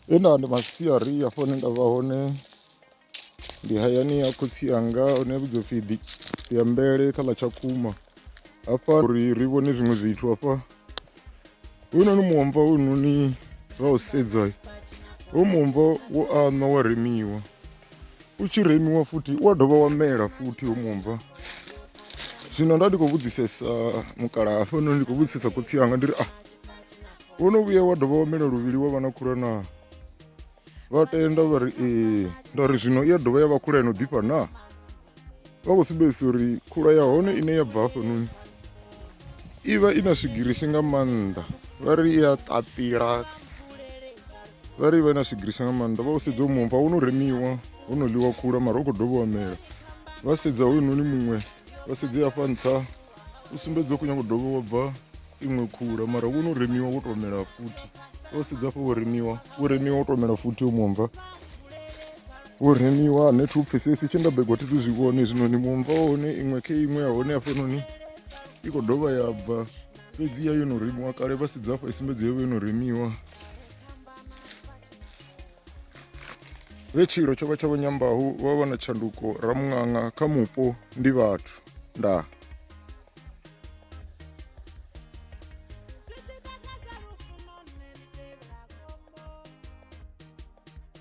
he nda ndi masiari hafho hune nda vha hone ndi hayani ya khotsi anga hune vhidzo pfhi ya mbele kha ḽa tshakhuma hafha uri ri vhone zwiṅwe zwithu hafha hoyunoni muomva hoyunoni vha u sedza ho muomva wo aṋwa wa remiwa u tshi remiwa futhi u a dovha wa mela futhi ho muomva zwino nda ndi khou vhudzisesa mukala hafhanoni ndi khou vhudzisesa khotsi anga ndi ri a ah, wo no vhuya wa dovha wa mela luvhili wa vha na khula na vha tenda vha ri ee nda ri zwino i ya dovha ya vha khula ino ḓifha naa vha khou sumbedzisa uri khula ya hone ine ya bva hafhanoni i vha i na swigirisi nga maanḓa vha ri i a ṱapila vha ri i vha i na swigirisi nga maanḓa vha u sedza u mumva wo no remiwa ho no ḽiwa khula mara u khou dovha wa mela vha sedza hoyunoni muṅwe vha sedze afha nṱha u sumbedza u khou nyanga u dovha wa bva iṅwe khula mara wo no remiwa wo tou mela futhi vha u sedza afha wo remiwa wo remiwa wo tou mela futhi u mumva Hu remiwa ane thi u pfhesesi tshe nda begwa thi tu zwi vhone zwino ni mumva wa hone iṅwe khe iṅwe ya hone hafhanoni i khou dovha ya bva fhedzi ya yo no remiwa kale vha sedza afha i sumbedza yo vha yo no remiwa vhe tshilo tsho vha tsha vhanyambahu vha vha na tshanduko ramuṅaṅa kha mupo ndi vhathu ndaa